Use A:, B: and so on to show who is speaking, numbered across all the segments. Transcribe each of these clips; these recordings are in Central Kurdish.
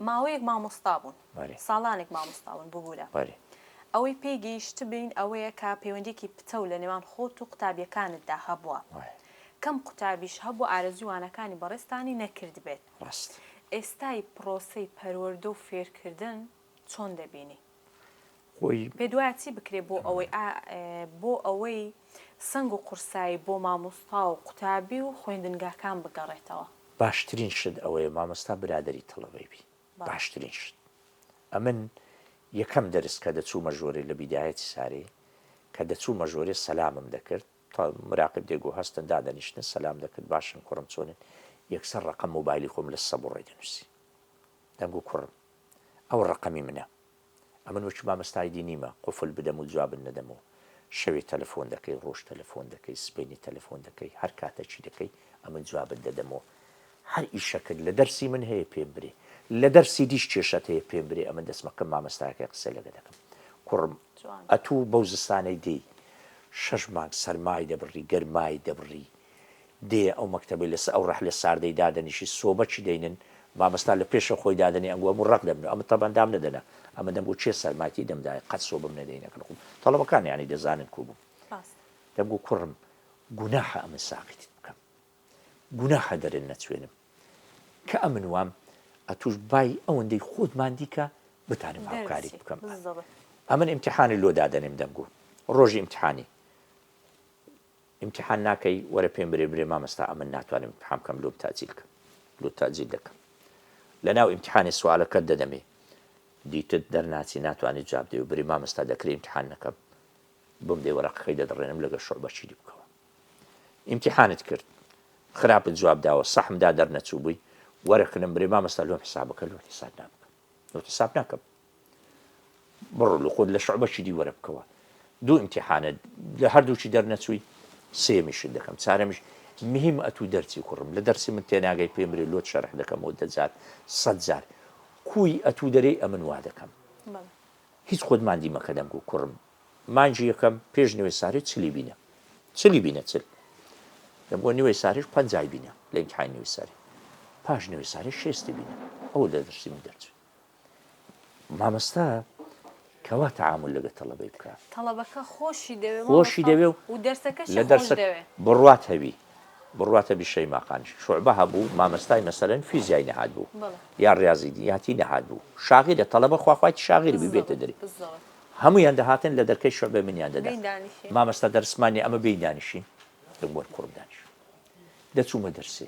A: ماوەیەک مامۆستا بوون بەلی. ساڵانێک
B: مامۆستا بوون
A: ببورە. بەلی. ئەوەی
B: پێی
A: گەیشتبین ئەوەیە کە پەیوەندیەکی پتەو لە نێوان خۆت و قوتابیەکانت دا هەبووە. وایە. کەم قوتابیش هەبووە ئارەزوی وانەکانی بەڕێزتانی نەکردبێت. ڕاست.
B: ئێستای
A: پڕۆسەی پەروەردە و فێرکردن چۆن دەبینی؟ خۆی.
B: پێت وایە چی
A: بکرێت بۆ ئەوەی بۆ ئەوەی سەنگ و قورسایی بۆ مامۆستا و قوتابی و خوێندنگاکان بگەڕێتەوە؟ باشترین شت
B: ئەوەیە مامۆستا برادەری تەڵەبەی بی باشترین شت ئەمن یەکەم دەرس کە دەچوومە ژۆرێ لە بیدایەتی سارەی کە دەچوومە ژۆرێ سەلامم دەکرد تا مراقب دێگۆ هەستن دادەنیشتن سەلام دەکرد باشن کوڕم چۆنن یەکسەر ڕقم موبایلی خۆم لە سەبڕێ دەنووسی دەنگ و کوڕم ئەو ڕەقەمی منە ئەمن وەکی مامۆستای دینیمە قوفل بدەم و جوابت نەدەم و شەوێ تەلەفۆن دەکەی ڕۆژ تەلەفۆن دەکەی سبەینێ تەلەفۆن دەکەی هەر کاتە چی دەکەی ئەمن جوابت دەدەم و هەر ئیشەکت لە دەرسی من هەیە پێم برێ لە دەرسی دیش کێشەت هەیە پێم برێ ئەمن دەسمە کەم مامۆستایەکە قسە لەگە دەکەم کوڕم ئەتوو بەو زستانەی دێی شەش مانگ سەرمای دەبڕی گەرمای دەبڕی دێیە ئەو مەکتەبەی لەسەر ئەو ڕەحلە ساردەی دادەنیشی سۆبەکی دەینن مامۆستا لە پێشەوە خۆی دادەنێ ئەنگۆ هەموو ڕەق دەبن و ئەمن تەبان دام نەدەنا ئەمە دەمگۆ کێ سەرماکی دەم دایە قەت سۆبم نەدەی نەکەن خۆم تەڵەبەکان یانی دەزانن کو بووم دەمگۆ کوڕم گوناحە ئەمن ساقیتت بکەم گوناحە دەرن نەچوێنم کە ئەمن وام ئەتوش بای ئەوەندەی خۆت ماندی کە بتانم هاوکاریت بکەم ئەمن ئیمتحانی لۆ دادەنێم دەمگۆ ڕۆژی ئیمتحانی ئیمتیحان ناکەی وەرە پێم برێ برێ مامۆستا ئەمن ناتوانم ئیمتیحان بکەم لۆت تاجیل کە لۆت تاجیل دەکەم لەناو ئیمتیحانێ سوالەکەت دەدەمێ دیتت دەرناچی ناتوانێت جواب دێ و بری مامۆستا دەکرێ ئیمتیحان نەکەم بۆم دێ وەرەقەکەی دەدڕێنم لەگە شعبە چیری بکەوە ئیمتیحانت کرد خراپت جواب داوە سەحمدا دەرنەچوو بووی وەرەکەم برێ مامۆستا لۆم حسابەکە لۆ حساب نابکەم لۆ حساب ناکەم بڕۆ لەخۆت لە شعبەکی دی وەرە بکەوە دوو امتحانە لە هەردووکی دەرنەچووی سێمیشت دەکەم چارەمیش مهم ئەتوو دەرچی کوڕم لە دەرسی من تێناگەی پێمرێ لۆت شەرح دەکەم و دەجار سەد جار کوی ئەتوو دەرەی ئەمن وا دەکەم هیچ خۆت مادی مەکە دەنگ و کوڕم مانجی یەکەم پێش نوێ ساری چلی بینە چلی بینە چل دەم بۆ نوێ ساریش پەنجای بینە لە امتحان نوێ ساری پاش نوێ ساری شێستی بینە ئەو لە دەرسی من دەرچێت مامۆستا کوا تەعامول لەگەر تەڵەبەی بکا؟ تەڵەبەکە خۆشی
A: دەوێ خۆشی دەوێ و
B: و دەرسەکەشی
A: لە خۆش دەرسەک دەوێ.
B: بڕوات هەبی بڕوات هەبی شەیما قانیش شوعبە هەبوو مامۆستای مەسەلەن فیزیای نەهات بوو بەڵێ. یا ڕاضی دیاتی نەهات بوو شاغیلە تەڵەبە خواخوایتی شاغیر بی بێتە دەری بزەوت. هەموویان دەهاتن لە دەرکەی شوعبەی منیان دەدا بین دانیشی. مامۆستا دەرسمان نیە ئەمە بێین دانیشین دەگوت کوڕم دانیشە دەچوومە دەرسێ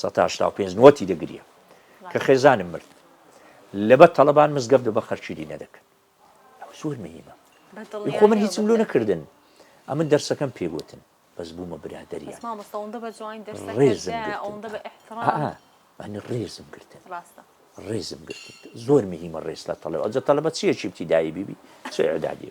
B: سەتا هەشتا و پێنج نۆتی دەگریە کە خێزانم مرد لەبەر تەڵەبان مزگەفت بە خەرچیری نەدەکرد ئەوە زۆر مهمە خۆ من هیچم لۆ نەکردن ئەمن دەرسەکەم پێگوتن بەس بوومە برادریان ئەنی ڕێزم گرتن ڕێزم گرتن زۆر مهمە ڕێز لە تەڵەوە ئەجە تەلەبە چیەکی بتیدایی بیبی چێدادی.